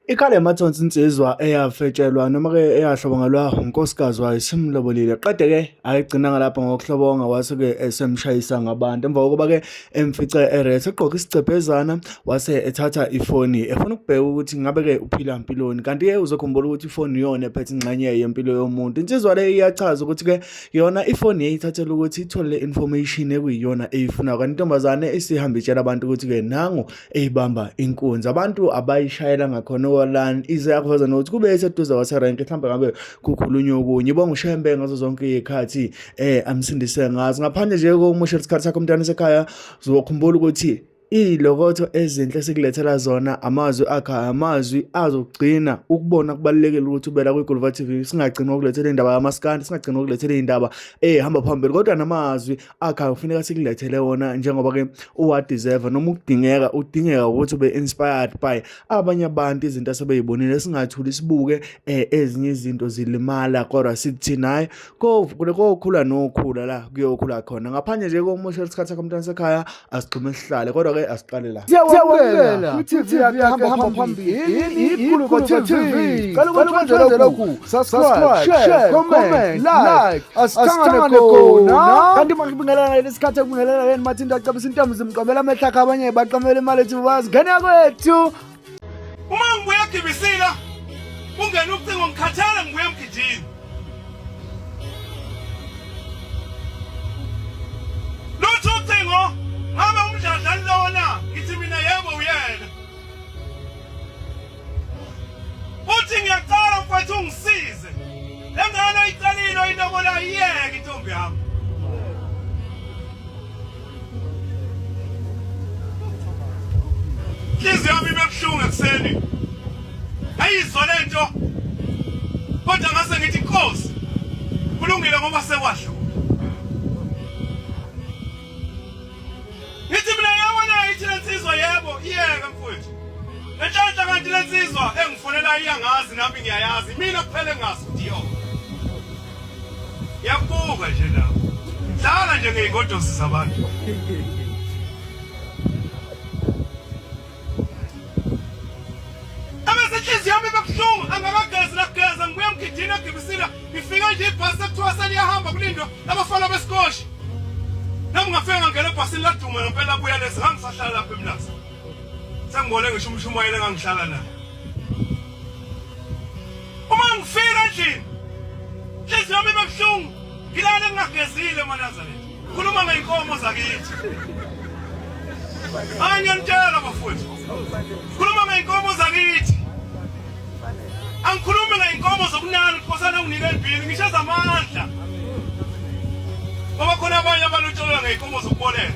Ikhale mathonsi insizwa eyafetshelwa noma-ke eyahlobongelwa unkosikazi wayo simlobolile qede-ke ayigcinanga lapho ngokuhlobonga wase-ke esemshayisa ngabantu emva kokuba-ke emfice eret egqoke isicephezana wase ethatha ifoni efuna ukubheka ukuthi ngabe-ke uphila mpiloni kanti-ke uzokhumbula ukuthi ifoni iyona ephethe ingxenye yempilo yomuntu insizwa le iyachaza ukuthi-ke yona ifoni yayithathela ukuthi ithole le information ekuyiyona eyifunayo kanti intombazane isihambe itshela abantu ukuthi-ke nangu eyibamba inkunzi abantu abayishayela ngakhona owalan ize yakuveza nokuthi kube eseduze waserank mhlawumbe ngabe kukhulunywa okunye bonga ushembe ngazo zonke iy'khathi eh amsindise ngazo ngaphandle nje kokumusha isikhathi sakho umntwana esekhaya uzokhumbula ukuthi iy'lokotho ezinhle esikulethela zona amazwi akhe amazwi azogcina ukubona kubalulekile ukuthi ubela kwi-Gulva TV singagcini ngokulethela indaba yamaskandi singagcini ngokulethela indaba ehamba phambili kodwa namazwi akha kufuneka sikulethele wona njengoba ke uwadeserve noma ukudingeka udingeka ukuthi ube inspired by abanye abantu izinto asebeyibonile singathuli sibuke eh, ezinye izinto zilimala kodwa sithi naye kokhula nokhula la kuyokhula khona ngaphandle nje komusha isikhathi sakho mntana sekhaya asigxume sihlale kodwa ke asiqale la siyawamukela kwi-tv yakhe hamba phambili ikhulu kwa-tv cela ukuthi wenze lokhu subscribe share comment like asithangane khona kanti makubingelana leli sikhathi ekubingelana leni mathi into acabisa intombi zimqamela amehla akhe abanye baqamela imali ethi bazi ngena kwethu Uma ngibuya gibisila ungena ucingo ngikhathala ngibuya emgidini. Lutho ucingo ngabe umdladla lona ngithi mina yebo uyena. Uthi ngiyacela mfowethu ungisize. Lengane oyicelile oyinobola iyeke intombi yami. Inhliziyo yami ibebuhlungu ekuseni. Ayizwa lento. Kodwa ngase ngithi inkosi. Kulungile ngoba sekwasho. Ngithi mina yebo na ithi lensizwa yebo iyeka mfowethu. Lenhlanhla kanti lensizwa engifonela iyangazi nami ngiyayazi. Mina kuphele ngazi ndiyo. yabuka nje lapho dlala nje ngey'godosi zabantu abesenhliziyo yami bebuhlungu angakagezi nageza ngibuye mgidini egibisila ngifike nje ibhasi sekuthiwa seliyahamba kulindwa abafana besikoshi nami ngafika ngangena ebhasini laduma ngempela buya lezi ngangisahlala lapho emlaza sengibone ngisho umshumayeli engangihlala naye Uma ngifika endlini inhliziyo yami ibe buhlungu ngilale ngingagezile manazaretha khuluma ngey'nkomo zakithi hayi ngiyanitshela bafowethu khuluma ngey'nkomo zakithi angikhulumi ngey'nkomo zokunani ukuthi kosana unginike endwini ngisho ezamandla ngoba khona abanye abalutsholela ngey'nkomo zokubolela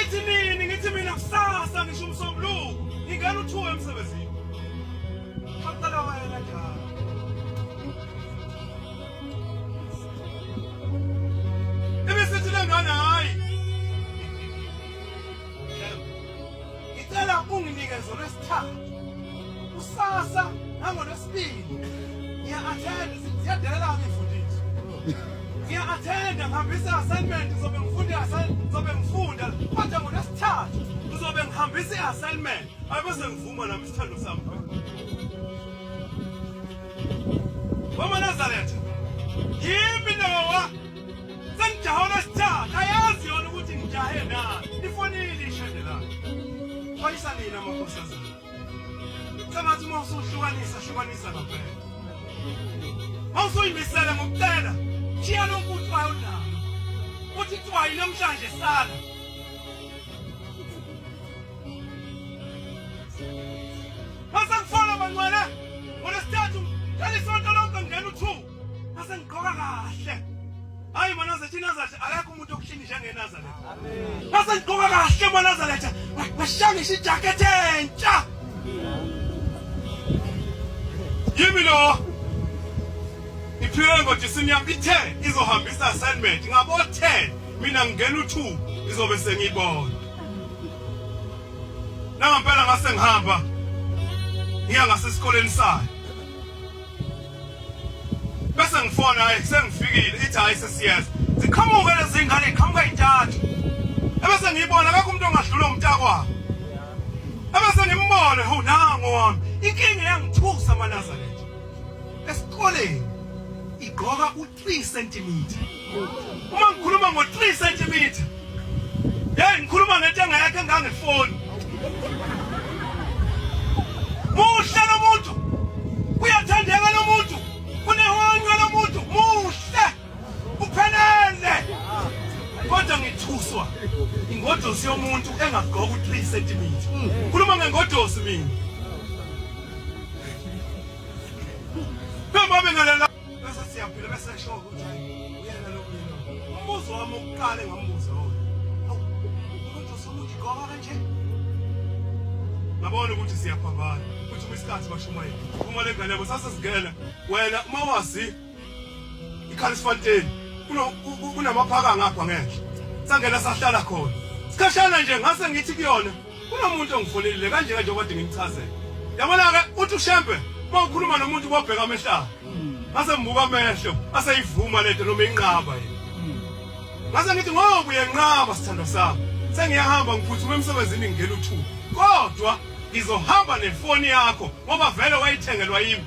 Ithi nini ngithi mina kusasa ngisho umsombuluko ngingena uthuwe emsebenzini. Qaqala wena njalo. ngicela unginike zona esithathu kusasa nangolwesibili ngiya-athenda ziyadelela ngifundisi ngiya-athenda ngihambisa i-assignment ngizobe ngifunda ngizobe ngifunda kodwa ngolwesithathu ngizobe ngihambisa i-assignment abese ngivuma nami isithando sami wamanazaretha yimi nowa Sengijahe olwesithathu ayazi yona ukuthi ngijahe na. Ifonile ishende la. Khonisa nina makhosazana. Sengathi uma usuhlukanisa hlukanisa kaphela. Mawusuyimisele ngokucela shiya lonke uthwayo nawo. Uthi thwayi namhlanje sala. Mase ngigqoka kahle. Hayi manazetha iNazaretha akekho umuntu okushini njengeNazaretha. Amen. Mase ngigqoka kahle manazaretha. Washangisha ijacket entsha. Yimi lo. Iphile ngothi sinyama ithe izohambisa assignment ngabo 10 mina ngingena u2 izobe sengibona. Nangampela ngase ngihamba ngiya ngasesikoleni sayo. bese ngifona hayi sengifikile ithi hayi sesiyeza ziqhamuke lezi ngane iqhamuka intathu ebese ngiyibona akekho umuntu ongadlula umntakwabo ebese ngimbone ho nango wami inkinga yangithusa amanazareth esikoleni igqoka 3 cm uma ngikhuluma ngo 3 cm hey ngikhuluma ngentenga yakhe ngangefoni muhle lomuntu kuyathandeka lomuntu kunehonywe lomuntu muhle uphelele kodwa ngithuswa ingodosi yomuntu engagqoka u 3 cm khuluma ngengodosi mina bese siyaphila bese esho ukuthi uyena lo mina umbuzo wami ukuqala engambuza wona umuntu usukuthi goba kanje ngabona ukuthi siyaphambana ukuthi kwisikhathi bashumayela uma le ngane yabo sasesingena wena uma wazi ikhalisifanteni kunamaphaka ngapha ngenhla sangena sahlala khona sikhashana nje ngase ngithi kuyona Kunomuntu ongifolelile kanje kanje okade ngimchazela. Yabona ke uthi uShembe uma ukhuluma nomuntu kwabheka amehlaka. Ngase ngibuka amehlo aseyivuma lento noma inqaba yini. Ngase ngithi ngoba uyenqaba sithandwa sami. Sengiyahamba ngiphuthume emsebenzini ngingena uthuba. Kodwa ngizohamba nefoni yakho ngoba vele wayithengelwa yimi.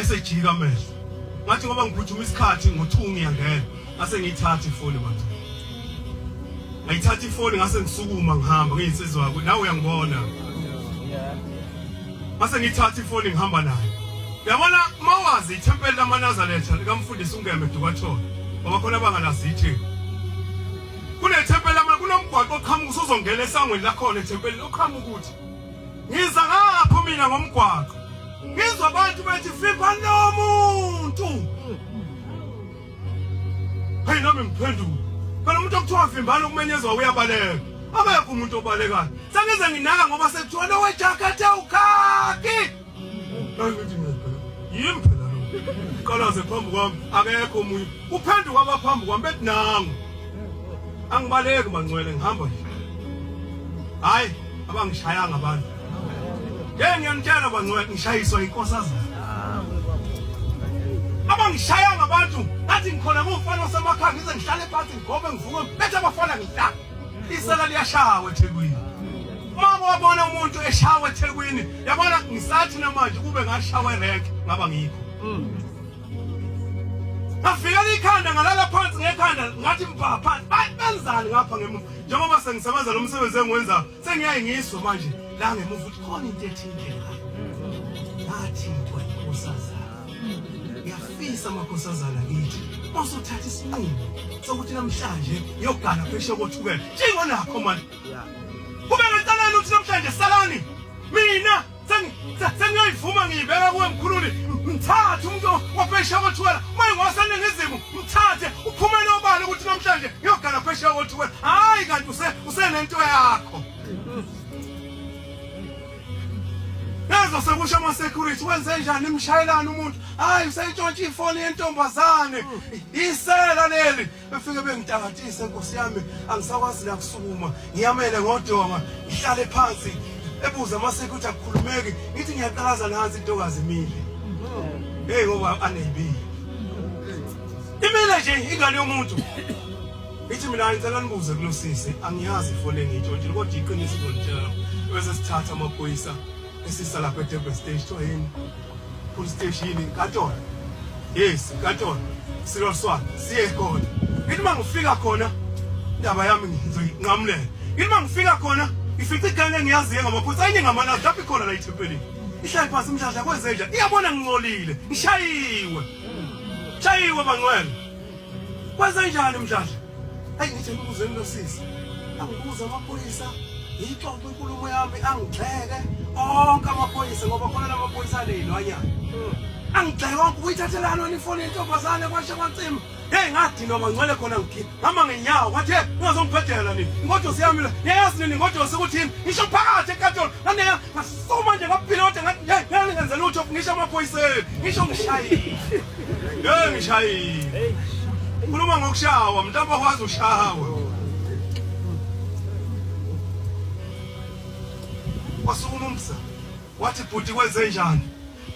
esejika amehlo ngathi ngoba ngiphuthuma isikhathi ngothungu ngiyangena ngase ngiyithatha ifoni manje ngayithatha ifoni ngase ngisukuma ngihamba ngiyinsizwa yakho nawe uyangibona ngase ngiyithatha ifoni ngihamba nayo yabona uma wazi ithempeli lamanazaretha likamfundisi ungeme dukathona ngoba khona abangalazi ithini kunethempeli lama kunomgwaqo oqhamuka usuzongena esangweni lakhona ethempelini oqhamuka ukuthi Ngiza ngapho mina ngomgwaqo. Ngizwa abantu bethi fipha lo muntu. Hey nami ngiphendula. Phela umuntu okuthiwa vimbana ukumenyezwa uyabaleka. Abekho umuntu obalekayo. Sengize nginaka ngoba sekuthiwa lowe jacket awukhaki. Nangithi mina phela yimi phela lo. Qalaze phambi kwami akekho omunye. Kuphenduka abaphambi kwami bethi nangu. Angibaleki mangcwele ngihamba nje. Hayi abangishayanga abantu. Ngeke ngiyanitshela bangcwele ngishayiswa inkosazana. Abangishayanga abantu ngathi ngikhona ngumfana osemakhaya ngize ngihlale phansi ngigobe ngivuke bethe abafana ngihlala. Isela liyashaya eThekwini. Uma wabona umuntu eshawa eThekwini, yabona ngisathi namanje kube ngashawa erenk ngaba ngikho. Mm. Ngafikela ikhanda ngalala phansi ngekhanda ngathi mbha phansi. Bayi benzani ngapha ngemuva. Njengoba sengisebenza lo msebenzi engiwenza, sengiyaye ngizwe manje la ngemuva ukuthi khona into ethile la. Ngathi into enkosazana. Ngiyafisa amakhosazana kithi. Masuthatha isinqumo sokuthi namhlanje ngiyogana phesheya kothukela. Njengonakho manje Kube ngenselelo ukuthi namhlanje salani mina sengiyoyivuma ngiyibeka kuwe mkhululi mthathe umuntu waphesheya kothuwela uma ingowaseningizimu mthathe uphumele obala ukuthi namhlanje ngiyogala phesheya kothuwela hhayi kanti usenento yakho Yazo sekusha ama security wenze njani imshayelana umuntu hayi usentshontsha ifoni yentombazane isela leli befike bengitakatise nkosi yami angisakwazi nakusukuma ngiyamele ngodonga ngihlale phansi ebuza amaseko ukuthi akukhulumeki ngithi ngiyaqalaza nansi intokazi imile heyi ngoba aneyibile imile nje ingane yomuntu ngithi mina ngicela nibuze kulosisi angiyazi ifone ngiyitshontshile kodwa iqiniso izonitshela bese sithatha amaphoyisa Isisa lapha eDurban Stage kuthiwa yini? Full stage yini? Katona. Yes, Katona. Silo Swana. Siye khona. Ngithi uma ngifika khona indaba yami ngizoyinqamulela. Ngithi uma ngifika khona ngifica igane engiyaziyo ngamaphutha ayinye ngamalazi lapho ikhona la ithempelini. Ihlale phansi umdladla kwenzenja. Iyabona ngincolile. Ngishayiwe. Shayiwe bangcwele. Kwenzenjani umdladla? Ayi ngithe ngibuzeni lo sisi. Angibuza amaphoyisa ngiyixoxe inkulumo yami angigxeke onke amaphoyisa ngoba khona la maphoyisa aney'lwanyana hmm. angigxeke onke ukuyithathelani wena ifoni yentombazane kwashe kwancima heyi ngadinwa mangcwele khona ngikhipha ngama ngenyawo kwathi he ungazongiphetela nini ingodosi yami la niyayazi nini ingodosi ukuthini ngisho phakathi ekatolo nandeya ngasukuma nje ngaphilota ngathi ngeke ngenze lutho ngisho amaphoyiseni ngisho ngishayile Ngeke ngishayile. Ukhuluma ngokushawa, mhlawumbe akwazi ushawa. Wasukuma umsa. Wathi bhuti kwenze njani?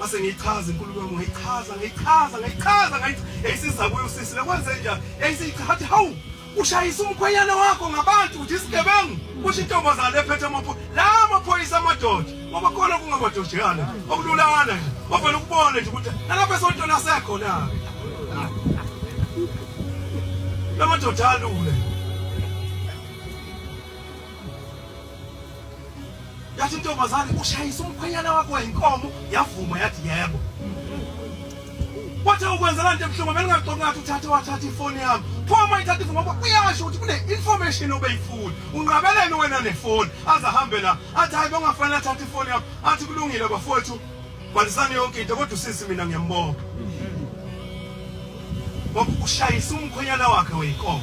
Base ngiyichaza inkulumo yami, ngiyichaza, ngiyichaza, ngiyichaza, ngiyichaza. Yayisiza kuyo usisi, lekwenze njani? Yayisichaza, hawu! ushayisa umkhwenyana wakho ngabantu uthi isigebengu kusho intombazane ephethe amaphoyisa la amaphoyisa amadoda ngoba khona kungamadojeyana okululana nje bavele ukubone nje ukuthi nalapha esontweni asekho na la madoda alule yathi intombazane ushayisa umkhwenyana wakho wayinkomo yavuma yathi yebo wathi ukwenzela nto ebuhlungu belingaxoki ngathi uthathe wathatha ifoni yami pho uma ithatha ifoni ngoba uyasho ukuthi kune-information obeyifuni unqabeleni wena nefoni aze ahambe la athi hayi bengafanele athathe ifoni yami athi kulungile bafowethu Kwalisani yonke into kodwa usisi mina ngiyambonga. Ngoba ushayisa umkhonyana wakhe weyinkomo.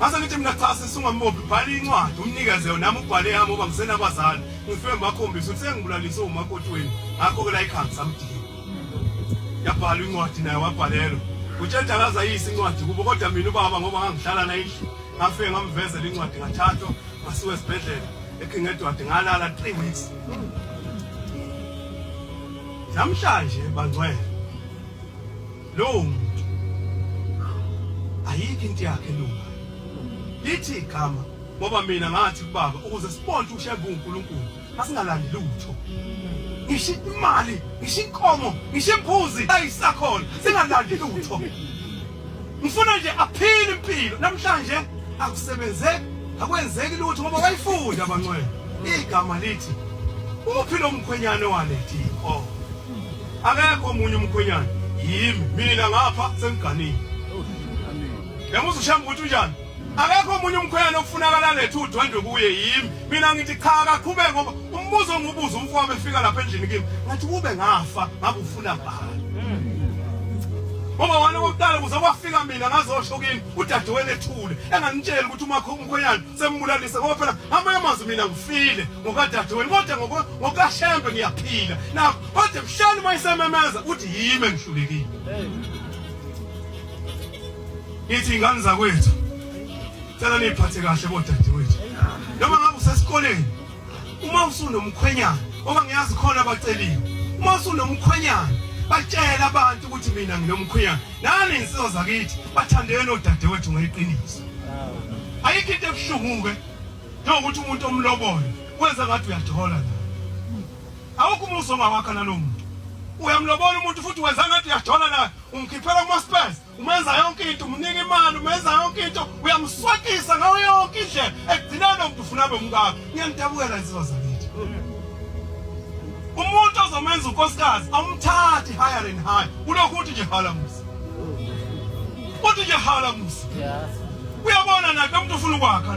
Mase ngithi mina cha sisungambophi bhala incwadi umnikeze yona nami ubhale yami uba ngisena kwazana. Ngifike ngibakhombisa ukuthi sengibulalise umakoti wenu. Ngakho ke la ikhanga samdinga. Yabhala incwadi naye wabhalelwa. Utshela akazayisa incwadi kubo kodwa mina ubaba ngoba ngangihlala naye ngafike ngamvezela incwadi ngathathwa ngasiwe esibhedlela. eKingedward ngalala 3 weeks namhlanje bangcwele lowo muntu ayikho into yakhe lunga lithi igama ngoba mina ngathi kubaba ukuze sibone ukuthi ushaye uNkulunkulu asingalandi lutho ngisho imali ngisho inkomo ngisho imbuzi ayisakhona singalandi lutho Ngifuna nje aphile impilo namhlanje akusebenzeki akwenzeki lutho ngoba wayifunda abancwele igama lithi uphi lo mkhwenyane walethi oh akekho omunye umkhwenyane yimi mina ngapha sengiganile yamuza ushamba ukuthi unjani Akekho omunye umkhwenyana okufunakala lethu udwendwe kuye yimi. Mina ngithi cha akaqhubeke ngoba umbuzo ongibuza umfowabo efika lapha endlini kimi. Ngathi kube ngafa ngakufuna bani. Ngoba wena kokuqala kuze kwafika mina ngazosho kini udadewenu ethule enganitsheli ukuthi umakho umkhwenyana sembulalise ngoba phela amanye amazwi mina ngifile ngokadadewenu kodwa ngokashembe ngiyaphila nakho kodwa mhlani uma isememeza uthi yimi engihlulekile. Nithi ingane zakwethu cela niyiphathe kahle bodadewethu. Noma ngabe usesikoleni uma usunomkhwenyana ngoba ngiyazi khona abaceliwe. Uma usunomkhwenyana batshela abantu ukuthi mina nginomkhwenyana. Nani insizwa zakithi bathandeni odadewethu ngeqiniso. Ayikho into ebuhlungu-ke njengokuthi umuntu omlobole wenze ngathi uyathola la. Awukho umuzi ongawakha nalowo muntu. Uyamlobola umuntu futhi wenza ngathi uyathola naye umkhiphela kuma-spurs umenza yonke into umnika imali umenza yonke into uyamswakisa ngayo yonke indlela ekugcina lo muntu ufuna abe umkakho ngiyangidabukela insizwa zakithi umuntu ozomenza unkosikazi awumthathi higher and higher ulokhu uthi nje hala musa uthi nje hala musa uyabona naye umuntu ufuna ukwakha